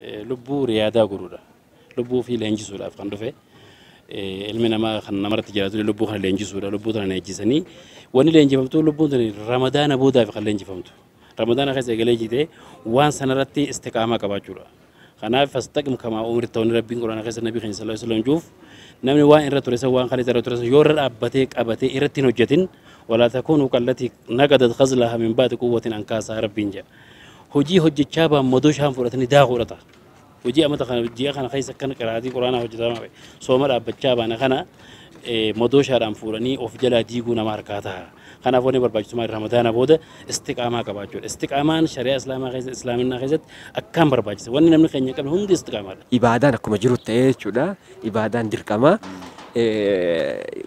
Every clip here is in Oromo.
Lubbuu riyaadaa godhuudha. Lubbuu ofii leenjisuudhaaf kan dhufe ilmi namaa kan namarratti jiraatu lubbuu kana leenjisuudha. Lubbuu kana leenjisanii wanni leenjifamtu lubbuun tuni ramadaana boodaaf kan leenjifamtu. Ramadaana keessa eegalee jitee waan sanarratti istiqaamaa qabaachuudha. Kanaaf fastaqim kamaa umirta wanni rabbiin quraana keessa nabii keenya sallallahu alaihi wasallam juuf namni waan irra ture san waan kan irra ture san yoo irra dhaabbatee qabatee irratti hin hojjetin walaa takuunu kallatii naqadat khazlaha min baati quwwatin ankaasaa rabbiin jedha. hojii hojjechaa baan madoo shaan fudhatanii daakuudha ta'a. Hojii amata kana ji'a kana keessa akkana qiraatii quraanaa hojjetamaa ba'e sooma dhaabbachaa baana kana madoo shaadhaan fuudhanii of jalaa diiguu nama harkaa ta'a. Kanaaf wanni barbaachisummaa ramadaana booda istiqaamaa qabaachuudha. Istiqaamaan shari'aa islaamaa keessatti islaaminaa keessatti akkaan barbaachisa. Wanni namni keenya hin qabne hundi istiqaamaadha. Ibaadaan akkuma jiru ta'ee jechuudha. Ibaadaan dirqamaa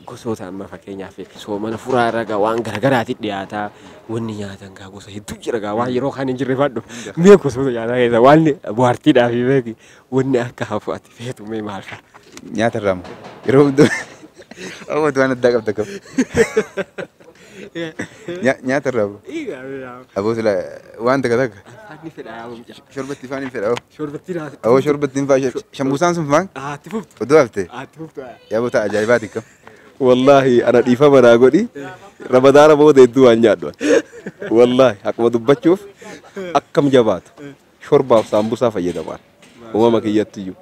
gosoota amma fakkeenyaaf soomana furaa irra waan garaagaraatiin dhiyaataa. Wanni nyaatan kaa gosa hedduu jira kaa waan yeroo kaan hin jirre fadhu. Mee gosoota nyaataa keessaa waan bu'aartiidhaa fi beeki wanni akka hafu ati feetu mee maal fa'a? Nyaata irraa moo? Yeroo hundu amma waan addaa qabda qabu. Nya- Nyaata irraa moo? Aboo sila waan takka takka Anni fedhaa yaa mucaa. shorbatti ifaan hin fedha. Shorbattii naa. Aboo shorbatti hin faa shammusaan sun faan Ati fuftu. oduu haftee. Ati fuftu. yaa bota ajaa'ibaati kam. Wallaahi ana dhiifama naa godhi ramadaana booda hedduu waan nyaadhu ani. Wallaahi haquma dubbachuuf akkam jabaatu shorbaaf saambusaa fayyadamaan uumama kiyyattiyyuu.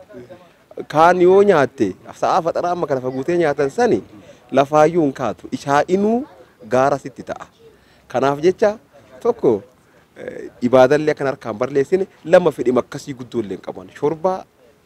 Kaan yoo nyaatte sa'aa faxaraa amma kana faguutee nyaatan sani lafaayyuu hin kaatu ishaa inuu gaara sitti ta'a. Kanaaf jecha tokko eh, ibaadallee akkan harkaan barleessine lama fedhima akkasii guddoo illee hin qaban shorbaa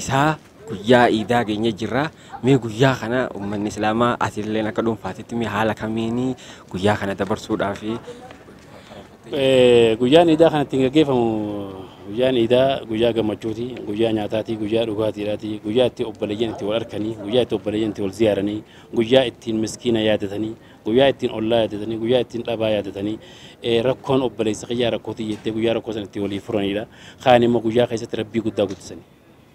isaa guyyaa iidaa geenye jirra mee guyyaa kana ummanni islaamaa atilleen akka dhuunfaatitti mee haala kamiin guyyaa kana dabarsuudhaaf Eh, guyyaan iidaa kan ittiin gaggeeffamu guyyaan iidaa guyyaa gammachuuti guyyaa nyaataati guyyaa dhugaatiidhaati guyyaa itti obboleeyyan itti wal arkanii guyyaa itti obboleeyyan itti wal ziyaaranii guyyaa ittiin miskiina yaadatanii Guyyaa ittiin ollaa yaadatanii, guyyaa ittiin dhabaa yaadatanii, eh, rakkoon obboleessa kiyyaa rakkoo tiyya jettee guyyaa rakkoo sana ittiin walii furanidha. Kaan immoo guyyaa keessatti rabbii guddaa guddisani.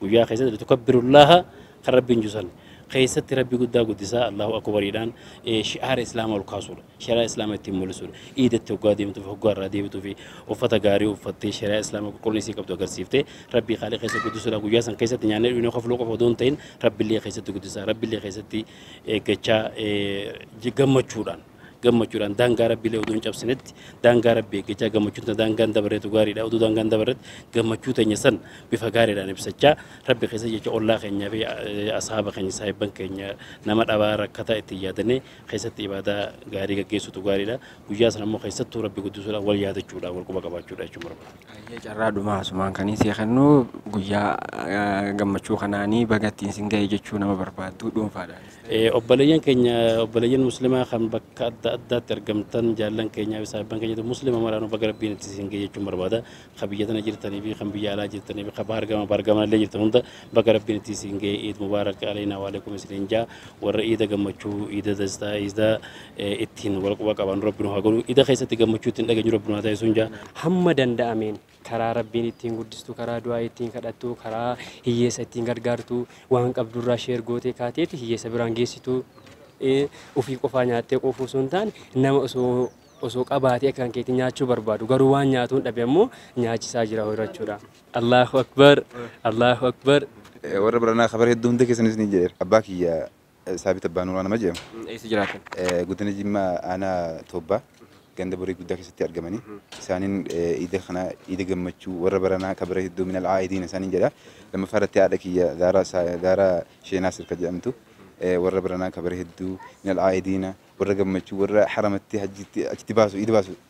Guyyaa keessatti litukabbirullaaha kan rabbiin jusan keessatti rabbii guddaa guddisaa Allahu akbariidhaan eh, shi'aara islaama ol kaasuudha. Shari'aa islaama ittiin mul'isuudha. Iidatti hoggaa deemtuuf hoggaa irraa deebituu fi uffata gaarii uffattee shari'aa islaama qulqullina isii qabdu agarsiiftee rabbii khaalii keessa guddisuudha. Guyyaa san keessatti nyaannee dhugnee kofluu qofa odoo hin ta'in rabbillee keessatti guddisaa rabbillee keessatti eeggachaa gammachuudhaan gammachuudhaan daangaa rabbiilee oduu hin cabsinetti daangaa rabbii eeggachaa gammachuun ta daangaan dabareetu gaariidha oduu daangaan dabarretti gammachuu teenya san bifa gaariidhaan ibsachaa rabbi keessa jecha ollaa keenyaa fi asaaba keenya saahibban keenya nama dhabaa rakkataa itti yaadanee keessatti ibaadaa gaarii gaggeessutu gaariidha guyyaa sana immoo keessattuu rabbi guddisuudhaan wal yaadachuudhaan wal quba qabaachuudha jechuun barbaada. Hayyee carraa dhumaa asumaan kanii sii kennu guyyaa gammachuu kanaanii baga ittiin sin ga'e jechuu nama barbaadduu dhuunfaadhaanis ta'e. Eh, Obboleeyyan keenya obboleeyyan muslimaa kan bakka adda addaatti argamtan jaallan keenyaa fi saahibban keenyatu muslima maraanuu baga rabbiin itti isin ga'e jechuun barbaada. Ka biyya tana jirtanii fi kan biyya alaa jirtanii fi ka bahar gama bahar gamanallee jirtan hunda Baga Rabbiin ittiin siin ga'e Iid Mubaarak Aleynaa Waalekum isiniin jaa warra Iida gammachuu Iida dastaa Iida ittiin wal quba qabaannu Rabbi nu haa godhu Iida keessatti gammachuu ittiin dhageenyu Rabbi nu haa taasisuun jaa hamma danda'ameen karaa Rabbiin ittiin guddistu karaa du'aa ittiin kadhattu karaa hiyyeessa ittiin gargaartu waan qabdurraa sheer gootee kaateeti hiyyeessa biraan geessitu ofii qofaa nyaattee quufuu osoo hin taane nama osoo osoo qabaatee akkaan keetii nyaachuu barbaadu garuu waan nyaatuun dhabe ammoo nyaachisaa jira horachuudha. Allaahu Akbar Allaahu Akbar. Warra baranaa kabara hedduu hunda keessan isinii jedheera. Abbaa kiyya Saabit Abbaa Nuuraa nama jedhamu. Eessa jiraatan? Godina Jimmaa aanaa Toobbaa ganda Boree Guddaa keessatti argamanii isaaniin iida kana iida gammachuu warra baranaa kabara hedduu minal aa'idiina isaaniin jedha. Lammaffaa irratti haadha kiyya Zaaraa Saa- Zaaraa Shee Naasir kan jedhamtu warra baranaa kabara hedduu minal aa'idiina warra gammachuu warra haramatti hajjiitti achitti baasu iida baasu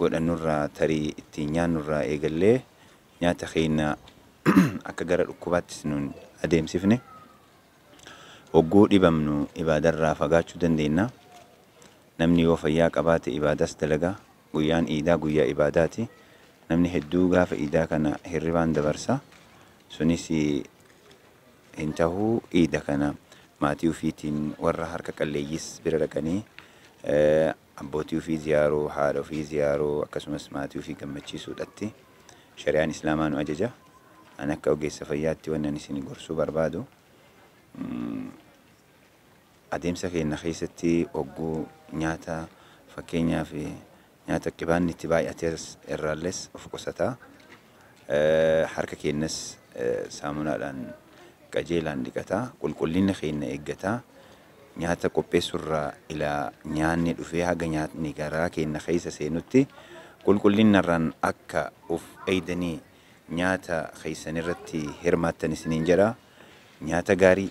godhannurraa tarii ittiin nyaannurraa eegallee nyaata keenya akka gara dhukkubaattis nun adeemsifne hogguu dhibamnu ibaadarraa fagaachuu dandeenna namni yoo fayyaa qabaate ibaadaas dalaga guyyaan iidaa guyyaa ibaadaati namni hedduu gaafa iidaa kana hirribaan dabarsa sunis hin tahu iida kana maatii ufiitiin warra harka qalleeyyiis bira dhaqanii abbootii ufii ziyaaruu, haadha ufii ziyaaruu akkasumas maatii ufii gammachiisuudhatti shari'aan islaamaa nu ajaja. Ani akka ogeessa fayyaatti wanni ani isin gorsuu barbaadu adeemsa keenna keessatti hogguu nyaata fakkeenyaaf Nyaata qibaanni itti baay'ate irraallees of qusata. Harka keenyas saamunaadhaan qajeelaan dhiqata. Qulqullina keenya eeggata. Nyaata qopheessuu irraa ila nyaanni dhufee haga nyaatni garaa keenya keessa seenutti qulqullina irraan akka of eegdanii nyaata keessan irratti hirmaattan isiniin jedha. Nyaata gaarii.